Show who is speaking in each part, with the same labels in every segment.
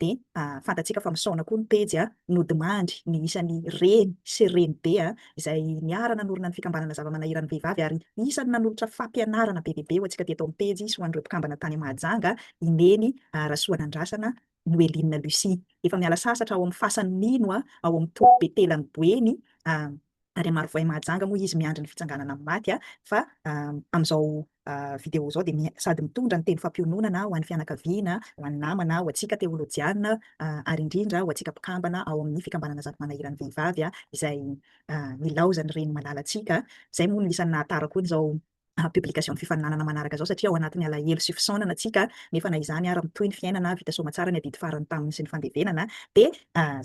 Speaker 1: dia fantatsika fa misaona koa ny pejy a, nodimandry ny isan'ny reny sy renibe a, izay niara-nanorina ny fikambanana zava-manahiran'ny vehivavy ary isan'ny nanolotra fampianarana be dia be ho antsika teto amin'ny pejy sy ho an'ireo mpikambana tany Mahajanga i Neny Rasoanandrasana Noeline Lucie. Efa miala sasatra ao amin'ny fasan'ny mino ao amin'ny toby Betelan'i Boeny a. ary hamarovoay mahajanga moa izy miandry ny fitsanganana amin'ny maty fa amin'izao vidéo izao dia sady mitondra ny teny fampiononana ho an'ny fianakaviana, ho an'ny namana, ho antsika teolojiana ary indrindra ho antsika mpikambana ao amin'ny fikambanana Zato Manahiran'ny Vehivavy izay nilaozan'ny reny malalantsika. Izay moa no isan'ny nahatara koa izao publication ny fifaninanana manaraka izao satria ao anatin'ny alahelo sy fisaonana tsika nefa na izany ary mitohy ny fiainana vita soamatsara ny adidy farany taminy sy ny fandevenana dia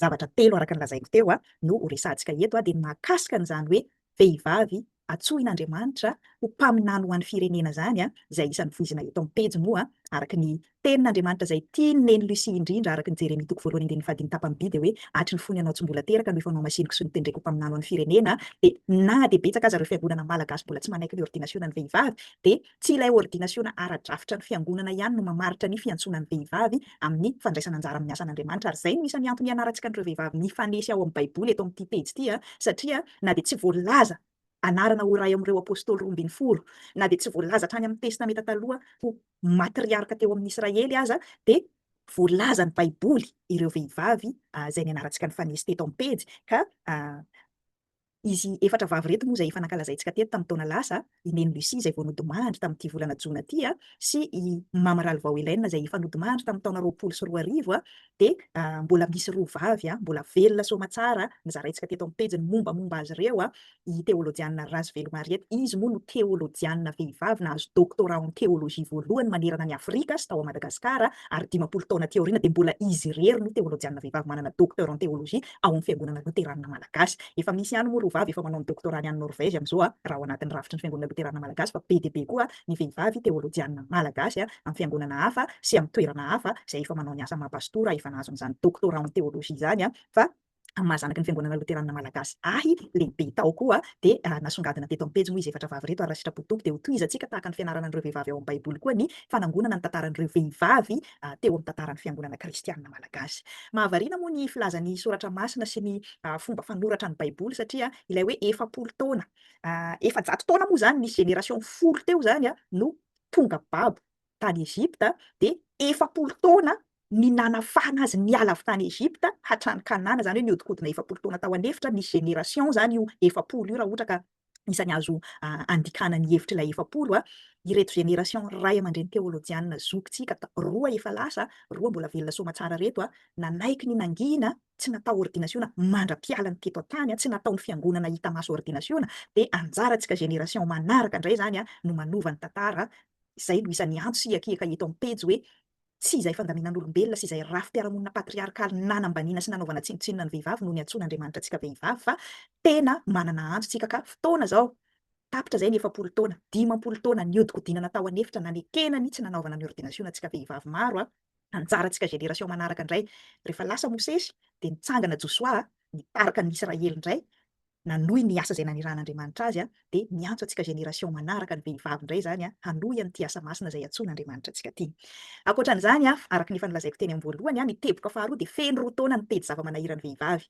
Speaker 1: zavatra telo araka ny lazaiko teo no ho resahantsika eto dia ny mahakasika an'izany hoe vehivavy atsohin'Andriamanitra ho mpaminany ho an'ny firenena izany izay isan'ny voizina eto amin'ny pejy moa araka ny Tenin'Andriamanitra izay tian'i Neny Lucie indrindra araka ny Jeremia toko voalohany andininy fahadimy tapany by dia hoe, Hatry ny fony ianao tsy mbola teraka no efa nohamasiniko sy notendreko ho mpaminany ho an'ny firenena, dia na dia betsaka aza ireo fiangonana malagasy mbola tsy manaiky ny ôrdinasionan'ny vehivavy dia tsy ilay ôrdinasiona ara-drafitra ny fiangonana ihany no mamaritra ny fiantsoana ny vehivavy amin'ny fandraisana anjara amin'ny asan'Andriamanitra ary izay no isan'ny antony ianarantsika an'ireo vehivavy mifanesy ao amin'ny baiboly eto amin'ity pejy ity a, satria na dia tsy voalaza anarana ho iray ao amin'ireo apostoly roa ambin'ny folo, na dia tsy voalaza hatrany amin'ny testameta taloha ho matriarka teo amin'ny Israely aza dia voalazan'ny Baiboly ireo vehivavy izay nianarantsika nifanesy teto amin'ny pejy ka izy efatra vavy ireto moa izay efa nankalazaintsika teto tamin'ny taona lasa, i Neny Lucie izay vao nodimandry tamin'ity volana jona ity sy i Mama Ralivao Hélène izay efa nodimandry tamin'ny taona roapolo sy roa arivo Dia mbola misy roa vavy a, mbola velona soamatsara a, nozaraintsika teto amin'ny pejy ny mombamomba azy ireo a, i Teolojiana Razovelo Mariette, izy moa no teolojiana vehivavy nahazo doctorat en théologie voalohany manerana an'i Afrika sy tao à Madagascar ary dimampolo taona aty aoriana dia mbola izy irery no teolojiana vehivavy manana docteur en théologie ao amin'ny Fiangonana Loteranina Malagasy. Efa misy ihany moa roa vavy efa manao ny doctorat-ny any Norvège amin'izao a, raha ao anatin'ny rafitry ny Fiangonana Loteranina Malagasy fa be dia be koa ny vehivavy teolojianina malagasy amin'ny fiangonana hafa sy amin'ny toerana hafa izay efa manao ny asa maha pastora efa nahazo an'izany doctorat en théologie izany aho fa amin'ny maha zanaky ny fiangonana loteranina malagasy ahy lehibe tao koa dia nasongadina teto amin'ny pejy moa izy efatra vavy ireto ary raha sitrapo Tompo dia hotohizantsika tahaka ny fianarana an'ireo vehivavy ao amin'ny baiboly koa ny fanangonana ny tantaran'ireo vehivavy teo amin'ny tantaran'ny fiangonana kristianina malagasy mahavariana moa ny filazan'ny soratra masina sy ny fomba fanoratra ny baiboly satria ilay hoe efapolo taona efajato taona moa izany, nisy génération folo teo izany no tonga babo tany Egypta, dia efapolo taona ny nanafahana azy niala avy tany Egypta hatrany Kanana, izany hoe nihodinkodina efapolo taona tao an'efitra, nisy génération izany io efapolo io raha ohatra ka isany azo andikana ny hevitr'ilay efapolo, ireto génération ray aman-dreny teolojiana zokintsika roa efa lasa, roa mbola velona soamatsara ireto, nanaiky ny nangina tsy natao ordinasiona mandra-piala ny teto an-tany, tsy nataon'ny fiangonana hita maso ordinasiona, dia anjarantsika génération manaraka indray izany no manova ny tantara, izay no isan'ny antso sy hiakiaka eto amin'ny pejy hoe, tsy izay fandaminan'olombelona sy izay rafi-piarahamonina patriarkaly nanambaniana sy nanaovana tsinontsinona ny vehivavy no niantsoana Andriamanitra antsika vehivavy fa tena manana antso tsika ka fotoana izao, tapitra izay ny efapolo taona, dimampolo taona niodikodinana tao an'efitra nanekena ny tsy nanaovana ny ordinasiona antsika vehivavy maro, Anjarantsika génération manaraka indray. Rehefa lasa Mosesy dia nitsangana Josoa nitarika ny Israely indray nanohy ny asa izay nanirahan'Andriamanitra azy dia miantso antsika génération manaraka ny vehivavy indray izany hanohy an'ity asa masina izay antsoin'Andriamanitra antsika ity. Ankoatran'izany, araka ny efa nolazaiko teny amin'ny voalohany, ny teboka faharoa dia feno roa taona ny pejy zava-manahiran'ny vehivavy.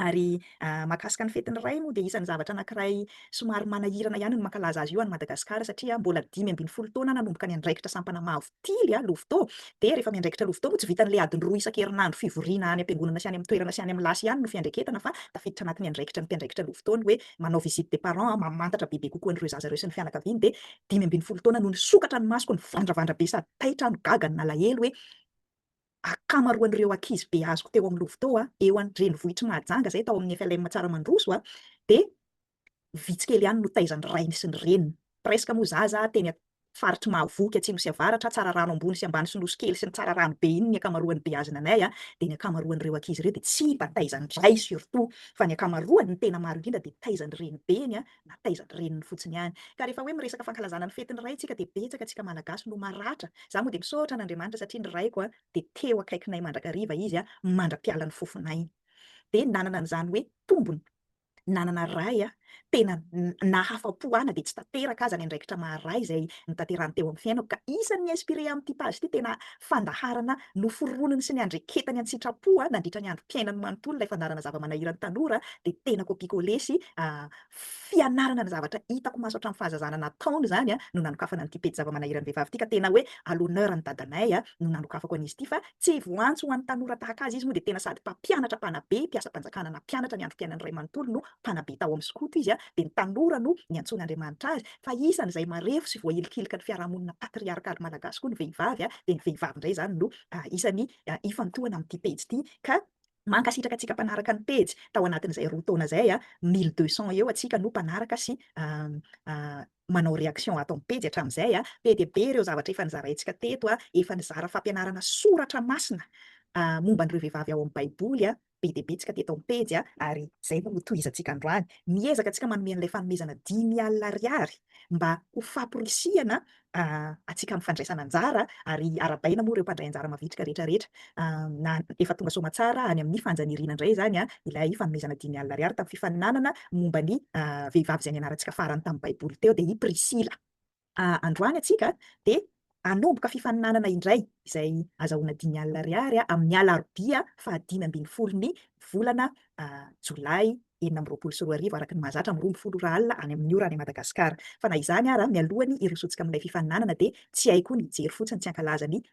Speaker 1: Ary mahakasika ny fetin'ny Ray moa dia isan'ny zavatra anankiray somary manahirana ihany ny mankalaza azy io any Madagasikara satria mbola dimy ambin'ny folo taona nanomboka ny andraikitra sampana mavo tily, Louveteau, dia rehefa miandraikitra Louveteau moa tsy vitan'ilay adiny roa isan-kerinandro fivoriana any am-piangonana sy any amin'ny toerana sy any amin'ny lasy ihany no fiandraiketana fa tafiditra anatin'ny andraikitra ny mpiandraikitra Louveteau ny hoe manao visite des parents, mamantatra bebe kokoa an'ireo zaza ireo sy ny fianakaviany dia dimy ambin'ny folo taona no nisokatra ny masoko nivandravandra be sady taitra aho, nigaga, nalahelo hoe. Akamaroan'ireo ankizy beaziko teo amin'ny Lovoto eo an-drenivohitr'i Mahajanga izay tao amin'ny FLM Tsaramandroso dia vitsy kely ihany no taizan'ny rainy sy ny reniny. Presque moa zaza teny faritr'i Mahavoky atsimo sy avaratra, Tsararano ambony sy ambany sy Nosy kely sy ny Tsararano be iny ny akamaroan'ny beazina anay dia ny akamaroan'ireo ankizy ireo dia tsy mba taizan'ny ray surtout fa ny akamaroany ny tena maro indrindra dia taizan'ny renibeny na taiza ny reniny fotsiny ihany. Ka rehefa hoe miresaka fankalazana ny fetin'ny ray tsika dia betsaka antsika malagasy no maratra. Za moa dia misaotra an'Andriamanitra satria ny raiko a dia teo akaikinay mandrakariva izy a mandra-pialan'ny fofonay. Dia nanana an'izany hoe tombony nanana ray a tena nahafa-po ana dia tsy tanteraka aza ny andraikitra maha ray izay nitanterahan'ny teo amin'ny fiainako ka isan'ny inspiré amin'ity page ity tena fandaharana noforoniny sy niandreketany an-tsitrapo nandritra ny androm-piainany manontolo ilay fandaharana zava-manahiran'ny tanora dia tena copie coller sy fianarana ny zavatra hitako maso hatramin'ny fahazazana nataony izany no nanokafana an'ity pejy zava-manahiran'ny vehivavy ity ka tena hoe à l'honneur an'i dadanay no nanokafako an'izy ity fa tsy voantso ho an'ny tanora tahaka azy izy moa dia tena sady mpampianatra mpanabe mpiasam-panjakana nampianatra ny androm-piainany iray manontolo no mpanabe tao amin'ny skoto izy dia ny tanora no niantsoan'Andriamanitra azy Fa isan'izay marefo sy voahilikilika ny fiarahamonina patriarkaly malagasy koa ny vehivavy, dia ny vehivavy indray izany no isan'ny ifantohana amin'ity pejy ity ka mankasitraka antsika mpanaraka ny pejy, tao anatin'izay roa taona izay, mille deux cents eo antsika no mpanaraka sy manao réaction ato amin'ny pejy hatramin'izay, be dia be ireo zavatra efa nizaraintsika teto, efa nizara fampianarana soratra masina momba an'ireo vehivavy ao amin'ny baiboly, be dia be tsika teto amin'ny pejy a, ary izay no ho tohizantsika androany. Miezaka tsika manome an'ilay fanomezana dimy alina ariary mba ho faporisihana antsika amin'ny fandraisana anjara, ary arabaina moa ireo mpandray anjara mavitrika rehetra rehetra, na efa tonga soamatsara any amin'ny fanjaniriana indray izany a, ilay fanomezana dimy alina ariary tamin'ny fifaninanana momba ny vehivavy izay nianarantsika farany tamin'ny baiboly teo dia i Prisila. androany antsika dia hanomboka fifaninanana indray izay azahoana dimy alina ariary amin'ny alarobia fahadimy ambin'ny folo ny volana jolay enina amby roapolo sy roa arivo araka ny mahazatra amin'ny roa ambin'ny folo ora alina any amin'ny ora any Madagasikara. Fa na izany ara, mialohan'ny hirosotsika amin'ilay fifaninanana dia tsy hay koa ny hijery fotsiny tsy hankalaza ny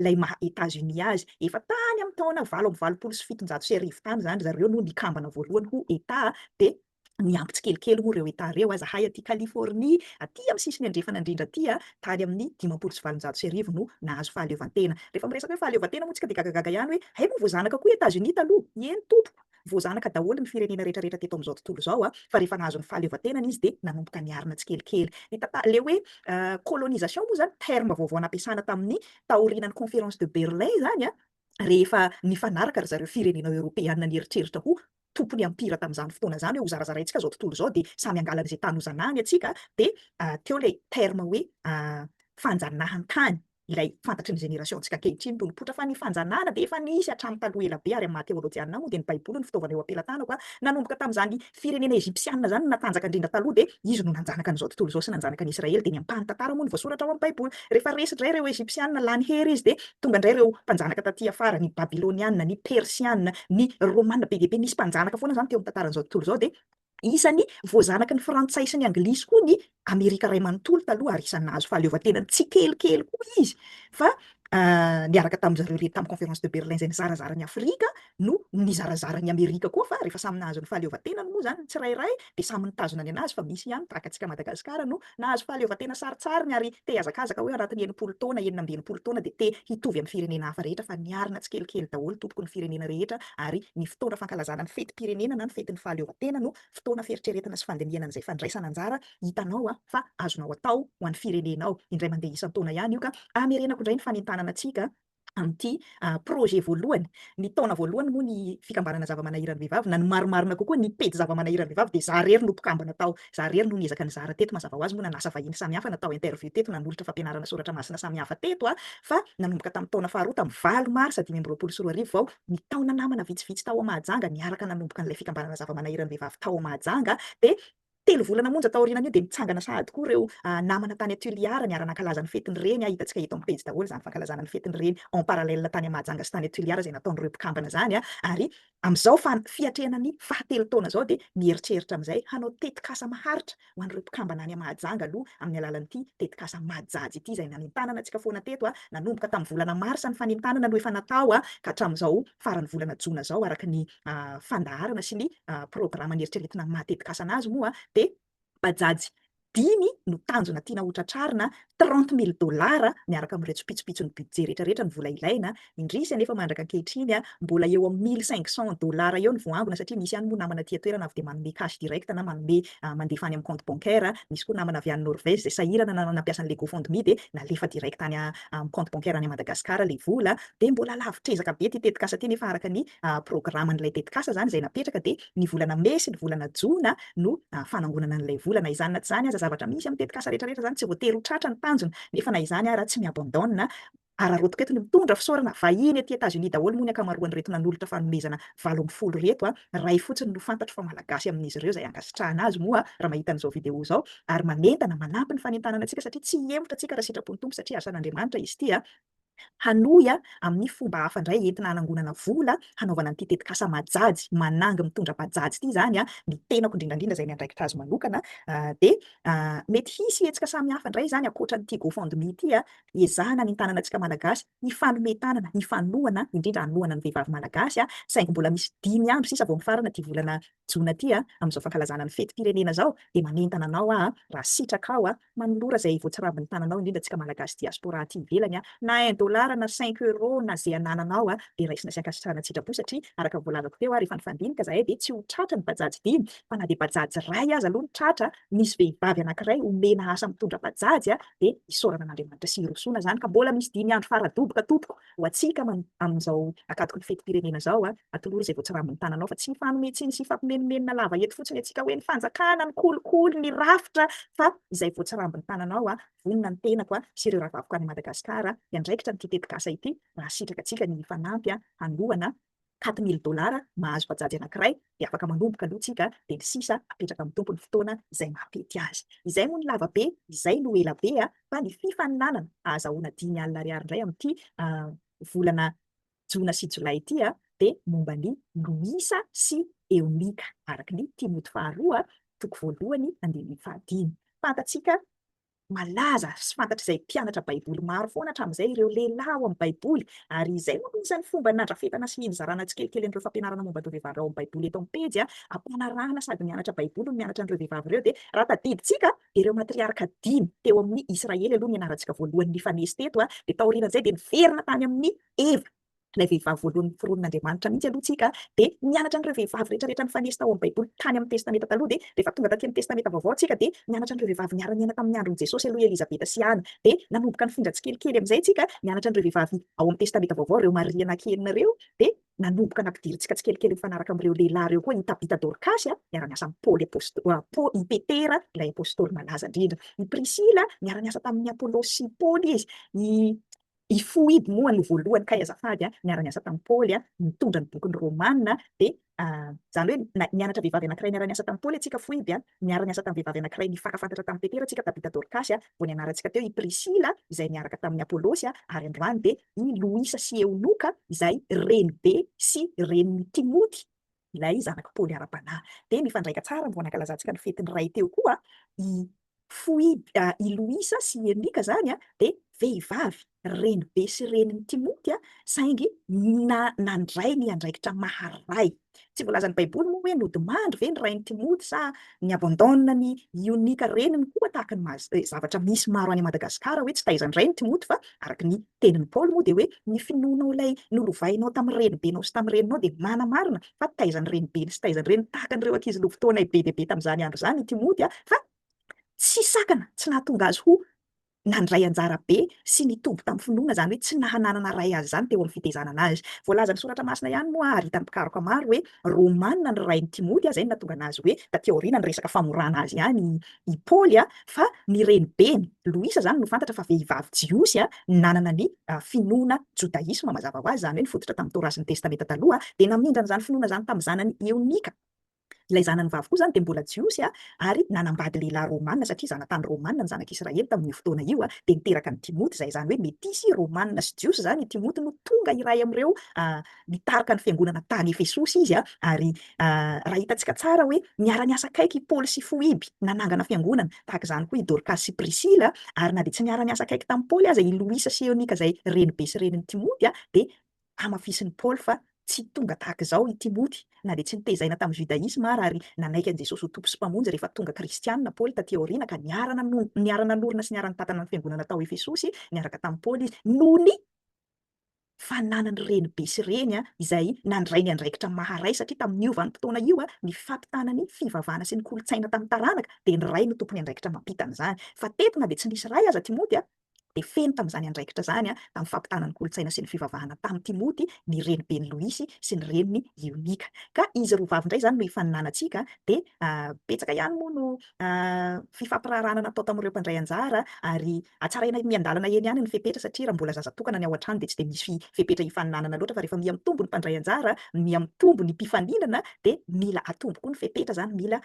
Speaker 1: Ilay maha Etats-Unis azy, efa tany amin'ny taona valo amby valopolo sy fitonjato sy arivo tany izany ry zareo no nikambana voalohany ho Etat, dia niampy tsikelikely moa ireo Etats ireo aza hay aty Californie, aty amin'ny sisiny andrefana indrindra aty, tany amin'ny dimampolo sy valonjato sy arivo no nahazo fahaleovantena. Rehefa miresaka hoe fahaleovantena moa isika dia gagagaga ihany hoe hay moa voazanaka koa i Etats-Unis taloha? Eny tompoko! Voazanaka daholo ny firenena rehetrarehetra teto amin'izao tontolo izao, fa rehefa nahazo ny fahaleovantenany izy dia nanomboka niarina tsikelikely. Ny tantara, ilay hoe colonisation moa izany, terme vaovao nampiasana tamin'ny taorianan'ny Conférence de Berlin izany, rehefa nifanaraka ry zareo firenena eoropeana nieritreritra ho tompon'ny empire tamin'izany fotoana izany hoe hozarazaraintsika izao tontolo izao dia samy hangala an'izay tany hozanahany antsika, dia teo ilay terme hoe fanjanahantany. ilay fantatry ny génération-ntsika ankehitriny no nipoitra fa ny fanjanahana dia efa nisy hatramin'ny taloha ela be ary amin'ny maha teolojianina ahy moa dia ny baiboly no fitaovana eo am-pelatanako a! nanomboka tamin'izany firenena egyptianina izany no natanjaka indrindra taloha dia izy no nanjanaka an'izao tontolo izao sy nanjanaka an'i israely dia ny ampahany tantara moa no voasoratra ao amin'ny baiboly rehefa resy indray ireo egyptianina lany hery izy dia tonga indray ireo mpanjanaka taty afara ny babylonianina, ny persianina, ny romana be dia be nisy mpanjanaka foana izany teo amin'ny tantaran'izao tontolo izao dia Isan'ny voazanaky ny Frantsay sy ny Anglisy koa ny Amerika Ray manontolo taloha ary isan'ny nahazo fahaleovantenany tsikelikely koa izy fa niaraka tamin-dry zareo rehetra tamin'ny Conférence de Berlin izay nizarazara an'i Afrika no nizarazara an'i Amerika koa fa rehefa samy nahazo ny fahaleovantenany moa izany ny tsirairay dia samy nitazona ny an'azy fa misy ihany tahaka antsika Madagasikara no Nahazo fahaleovantena sarintsariny ary te hiazakazaka hoe anatin'ny enimpolo taona, enina amby enimpolo taona dia te hitovy amin'ny firenena hafa rehetra fa niarina tsikelikely daholo tompoko ny firenena rehetra ary ny fotoana fankalazana ny fetim-pirenena na ny fetin'ny fahaleovantena no fotoana fieritreretana sy fandinihana an'izay fandraisana anjara hitanao fa azonao atao ho an'ny firenenao indray mandeha isan-taona ihany io ka hamerenako indray ny fanentanana antsika amin'ity projet voalohany. Ny taona voalohany moa ny fikambanana zava-manahiran'ny vehivavy na ny marimarina kokoa ny pejy zava-manahiran'ny vehivavy dia za rery no mpikambana tao, za rery no niezaka nizara teto mazava ho azy moa nanasa vahiny samihafa natao interview teto nanolotra fampianarana soratra masina samihafa teto a! fa nanomboka tamin'ny taona faharoa tamin'ny valo marsa dimy amby roapolo sy roa arivo vao ny taona namana vitsivitsy tao Mahajanga niaraka nanomboka an'ilay fikambanana zava-manahiran'ny vehivavy tao Mahajanga dia Telo volana monja taorianan'io dia nitsangana sahady koa ireo namana tany Tuliar niara-nankalaza ny fetin'ny reny, hitantsika eto amin'ny pejy daholo izany fankalazana ny fetin'ny reny en parallèle tany Mahajanga sy tany Tuliar izay nataon'ireo mpikambana izany ary amin'izao fiatrehana ny fahatelo taona izao dia mieritreritra amin'izay hanao tetikasa maharitra ho an'ireo mpikambana any Mahajanga aloha amin'ny alalan'ity tetikasa Majaj ity izay nanentanana antsika foana teto nanomboka tamin'ny volana marsa ny fanentanana no efa natao ka hatramin'izao faran'ny volana jona izao araka ny fandaharana sy ny programan'ny eritreretina maha tetikasa anazy moa dia bajaj dimy no tanjona tiana ho tratrarina, trente mille dollars, miaraka amin'ireo tsopitsopitson'ny budget rehetra rehetra ny vola ilaina. Indrisy anefa mandraka ankehitriny mbola eo amin'ny mille cinq cents dollars eo ny voaangona satria misy ihany moa namana aty an-toerana avy dia manome cash direct na manome mandefa any amin'ny compte bancaire, misy koa namana avy any Norvège izay sahirana na nampiasa an'ilay GoFundMe dia nalefa direct any amin'ny compte bancaire any Madagascar ilay vola. Dia mbola lavo trezaka be ity tetikasa ity anefa araka ny programan'ilay tetikasa izany izay napetraka dia ny volana mey sy ny volana jona no fanangonana an'ilay vola. Na izany na tsy izany aza, zavatra misy amin'ny tetikasa rehetrarehetra izany, tsy voatery ho tratra ny tanjona, nefa na izany ara tsy mi-abandonne. Araraotiko eto ny mitondra fisaorana, vahiny aty Etats-Unis daholo moa ny ankamaroan'ireto nanolotra fanomezana valo ambin'ny folo ireto, iray fotsiny no fantatro fa Malagasy amin'izy ireo izay ankasitrahana azy moa raha mahita an'izao video izao, ary manentana, manampy ny fanentanana antsika satria tsy hihemotra tsika raha sitrapon'ny Tompo satria asan'Andriamanitra izy ity. Hanohy amin'ny fomba hafa indray entina hanangonana vola hanaovana an'ity tetikasa Majajy manangy mitondra bajajy ity izany ny tenako indrindra indrindra izay miandraikitra azy manokana dia mety hisy hetsika samihafa indray izany ankoatra an'ity GoFundMe ity hiezahana ny hitanana antsika Malagasy hifanome tanana hifanohana indrindra hanohana ny vehivavy Malagasy saingy mbola misy dimy andro sisa vao mifarana ity volana Jona ity a, amin'izao fankalazana ny fetim-pirenena izao dia manentana anao aho raha sitraka aho manolora izay voatsirambin'ny tananao indrindra antsika Malagasy diaspora aty ivelany na un dollar na cinq euro na ze anananao dia raisina sy ankasitrahana an-tsitrapo satria araka ny voalazako teo rehefa nifandinika zahay dia tsy ho tratra ny bajaj dimy fa na dia bajaj iray aza aloha no tratra misy vehivavy anankiray omena asa mitondra bajaj dia isaorana an'Andriamanitra sy hirosoana izany ka mbola misy dimy andro fara-doboka tompoko Ho antsika aman amin'izao akatoky ny fetim-pirenena izao, atolory izay voatsirambin'ny tananao fa tsy ny fanome tsiny sy fampimenomenona lava eto fotsiny antsika hoe ny fanjakana, ny kolikoly, ny rafitra fa izay voatsirambin'ny tananao, vonona ny tenako sy ireo rahavaviko any Madagasikara hiandraikitra an'ity tetikasa ity raha sitraka antsika ny hifanampy hanohana quatre mille dollars mahazo bajaj anakiray dia afaka manomboka aloha tsika dia ny sisa apetraka amin'ny tompony fotoana izay mahatety azy izay moa ny lava be izay no ela be a fa ny fifaninanana ahazahoana dimy alina ariary indray amin'ity volana jona sy jolay ity a dia momba ny loisa sy eonika araka ny timoty faharoa toko voalohany andininy fahadimy fantatsika Malaza sy fantatr'izay mpianatra Baiboly maro foana hatramin'izay ireo lehilahy ao amin'ny Baiboly, ary izay no anisan'ny fomba nandrafetana sy nizarana tsikelikely an'ireo fampianarana momba an'ireo vehivavy ao amin'ny Baiboly eto amin'ny pejy ampanarahana sady mianatra Baiboly no mianatra an'ireo vehivavy ireo. Dia raha tadidintsika dia ireo matriarka dimy teo amin'ny Israely aloha ny anarantsika voalohany nifanesy teto, dia taorian'izay dia niverina tany amin'ny Eva. ilay vehivavy voalohany noforonin'Andriamanitra mihitsy aloha tsika dia nianatra an'ireo vehivavy rehetra rehetra nifanesy tao amin'ny baiboly tany amin'ny testamenta taloha dia rehefa tonga taty amin'ny testamenta vaovao tsika dia nianatra an'ireo vehivavy niara-niaina tamin'ny andron'i Jesosy aloha i Elizabeta sy Ana dia nanomboka nifindra tsikelikely amin'izay tsika nianatra an'ireo vehivavy ao amin'ny testamenta vaovao ireo Maria anaky enina ireo dia nanomboka nampidirintsika tsikelikely mifanaraka amin'ireo lehilahy ireo koa i Tabita Dorkasy a miara-niasa amin'i Paoly apostoly i Petera ilay apostoly malaza indrindra i Prisila miara-niasa tamin'i Apolosy sy Paoly izy i I Foibe moa no voalohany kay azafady a, niara-niasa tamin'i Paoly a, nitondra ny bokin'ny Romana dia izany hoe nianatra vehivavy anankiray niara-niasa tamin'i Paoly antsika Foibe a, niara-niasa tamin'ny vehivavy anankiray nifankafantatra tamin'i Petera antsika Tabita Dorkasy a, vao nianarantsika teo i Prisila izay niaraka tamin'i Apolosy a, ary androany dia i Loisa sy Eonoka izay renibe sy renin'i Timoty. ilay zanak'i Paoly ara-panahy. Dia mifandraika tsara vao nankalazantsika ny fetin'ny Ray teo koa i Foibe, i Loisa sy i Enika izany dia vehivavy renibe sy renin'i Timoty saingy nandray ny andraikitra maha-ray. Tsy voalazan'ny Baiboly moa hoe nodimandry ve ny rain'i Timoty sa ni-abandonne an'i Ionika reniny koa tahaka ny zavatra misy maro any Madagasikara hoe tsy taizan-drainy Timoty fa araka ny Tenin'i Paoly moa dia hoe, Ny finoanao ilay nolovainao tamin'ny renibenao sy tamin'ny reninao dia manamarina fa taizan'ny renibeny sy taizan'ny reniny tahaka an'ireo ankizy lovotoanay be dia be tamin'izany andro izany i Timoty fa tsy sakana tsy nahatonga azy ho nandray anjara be sy nitombo tamin'ny finoana, izany hoe tsy nahananana ray azy izany teo amin'ny fitezanana azy. Voalazan'ny Soratra Masina ihany moa ary hitan'ny mpikaroka maro hoe Romana ny rain'i Timoty, izay no nahatonga anazy hoe taty aoriana niresaka famorana azy ihany i Paoly. Fa ny renibeny, Loisa izany no fantatra fa vehivavy jiosy nanana ny finoana jodaisma, mazava ho azy izany hoe nifototra tamin'ny Torah sy ny Testamenta Taloha, dia namindra an'izany finoana izany tamin'ny zanany Eonika. Ilay zanany vavy koa izany dia mbola jiosy ary nanambady lehilahy romana, satria zanatany romana ny zanak'Israely tamin'io fotoana io, dia niteraka an'i Timoty izay, izany hoe metisy romana sy jiosy izany i Timoty no tonga iray amin'ireo Nitarika ny fiangonana tany Efesosy izy, ary raha hitantsika tsara hoe niara-niasa akaiky i Paoly sy Foiby nanangana fiangonana, tahaka izany koa i Dorkasy sy Prisila, ary na dia tsy niara-niasa akaiky tamin'i Paoly aza i Loisa sy Eonika izay renibe sy renin'i Timoty, dia hamafisin'i Paoly fa tsy tonga tahaka izao i Timoty. Na dia tsy notezaina tamin'ny Judaisma àra ary nanaiky an'i Jesosy ho Tompo sy Mpamonjy rehefa tonga Kristianina Paoly tatỳ aoriana ka niara-nanorina sy niara-nitantana ny fiangonana tao Efesosy niaraka tamin'i Paoly izy, noho ny fananan'ny renibe sy reny izay nandray ny andraikitra maha-ray satria tamin'io vanim-potoana io ny fampitana ny fivavahana sy ny kolontsaina tamin'ny taranaka dia ny ray no tompony andraikitra mampita an'izany fa teto na dia tsy nisy ray aza Timoty dia feno tamin'izany andraikitra izany tamin'ny fampitana ny kolontsaina sy ny fivavahana tamin'i Timoty ny renibeny Loisy sy ny reniny Ionika ka izy roa vavy indray izany no ifaninanantsika dia betsaka ihany moa no fifampiraharahana natao tamin'ireo mpandray anjara ary Hatsaraina miandalana eny ihany ny fepetra satria raha mbola zaza tokana ny ao an-trano dia tsy dia misy fepetra hifaninanana loatra fa rehefa miha mitombo ny mpandray anjara, miha mitombo ny mpifaninana dia mila atombo koa ny fepetra izany, mila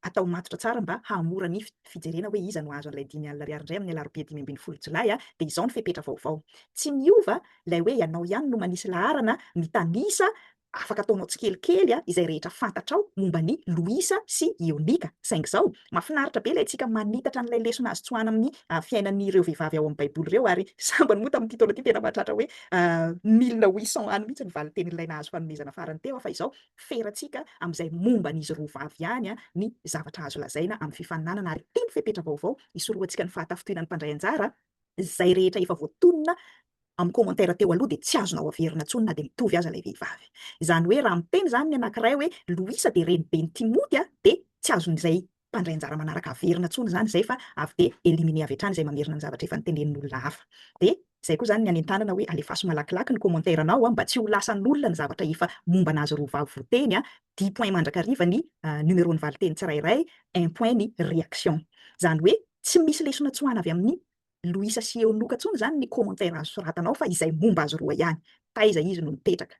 Speaker 1: atao matotra tsara mba hahamora ny fijerena hoe iza no hahazo an'ilay dimy alina ariary indray amin'ny alarobia dimy ambin'ny folo jolay dia izao ny fepetra vaovao. Tsy miova ilay hoe ianao ihany no manisy laharana mitanisa Afaka ataonao tsikelikely izay rehetra fantatrao momba ny Louisa sy Ionika. Saingy izao, mahafinaritra be ilay antsika manitatra an'ilay lesona azo tsoahana amin'ny fiainan'ireo vehivavy ao amin'ny Baiboly ireo, ary sambany moa tamin'ity taona ity tena mahatratra hoe mille huit cents ans mihitsy ny valintenin'ilay nahazo fanomezana farany teo. Fa izao, ferantsika amin'izay momba an'izy roa vavy ihany ny zavatra azo lazaina amin'ny fifaninanana, ary ity ny fepetra vaovao isorohantsika ny fahatafintohinan'ny mpandray anjara izay rehetra efa voatonona amin'ny commentaire teo aloha dia tsy azonao averina intsony na dia mitovy aza ilay vehivavy. Izany hoe raha miteny izany ny anankiray hoe Louisa dia reniben'i Timothy a, dia tsy azon'izay mpandray anjara manaraka averina intsony izany izay fa avy dia éliminer avy hatrany izay mamerina ny zavatra efa notenenin'olona hafa. Dia izay koa izany ny anentanana hoe alefaso malakilaky ny commentaire anao a, mba tsy ho lasan'olona ny zavatra efa momba an'azy roa vavy voateny a, dix points mandrakariva ny numero ny valinteny tsirairay, un point ny réaction. Izany hoe tsy misy lesona tsoahana avy amin'ny Louisa sy Eonoka tsony zany ny commentaire azo soratanao fa izay momba azy roa ihany, taiza izy no mipetraka?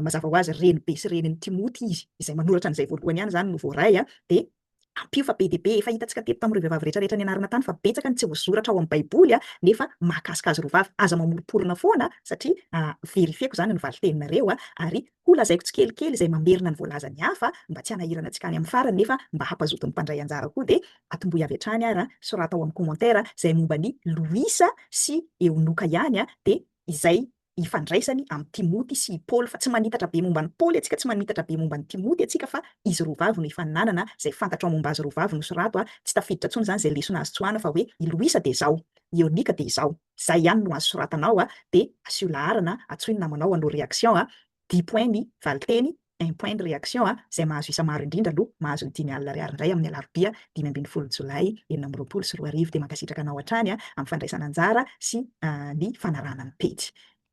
Speaker 1: mazava ho azy renibe sy renin'i Timoty izy, izay manoratra an'izay voalohany ihany zany no voaray a, de ampio fa be dia be, efa hitantsika teto tamin'ireo vehivavy rehetra rehetra nianarana tany fa betsaka ny tsy voasoratra ao amin'ny baiboly a, nefa mahakasika azy roa vavy, aza mamoroporona foana satria verifieko zany ny valiteninareo a, ary Ho lazaiko tsikelikely izay mamerina ny voalazan'ny hafa mba tsy hanahirana antsika any amin'ny farany nefa mba hampazoton'ny mpandray anjara koa dia atomboy avy hatrany ary soraty ao amin'ny commentaire izay momba an'i Loisa sy Eonoka ihany dia izay ifandraisany amin'i Timoty sy i Paoly fa tsy manitatra be momba an'i Paoly antsika tsy manitatra be momba an'i Timoty antsika fa izy roa vavy no ifaninanana izay fantatro momba azy roa vavy no sorato tsy tafiditra intsony izany izay lesona azo tsoahina fa hoe i Loisa dia izao i Eonika dia izao Zay ihany no azo soratana ao dia asio laharana atsoin'ny namanao hanao réaction, dix points ny valinteny, un point ny réaction, zay mahazo isa maro indrindra aloha mahazo ny dimy alina ariary indray amin'ny alarobia dimy ambin'ny folo jolay enina amby roapolo sy roa arivo. Dia mankasitraka anao hatrany amin'ny fandraisana anjara sy ny fanarahana ny pejy.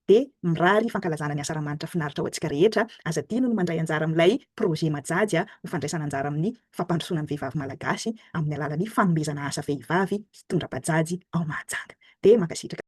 Speaker 1: Dia mirary fankalazana ny Asaramanitra finaritra ho antsika rehetra, aza adino ny mandray anjara amin'ilay projet Majaja ho fandraisana anjara amin'ny fampandrosoana ny vehivavy malagasy amin'ny alalan'ny fanomezana asa vehivavy hitondra bajajy ao Mahajanga. Dia mankasitraka.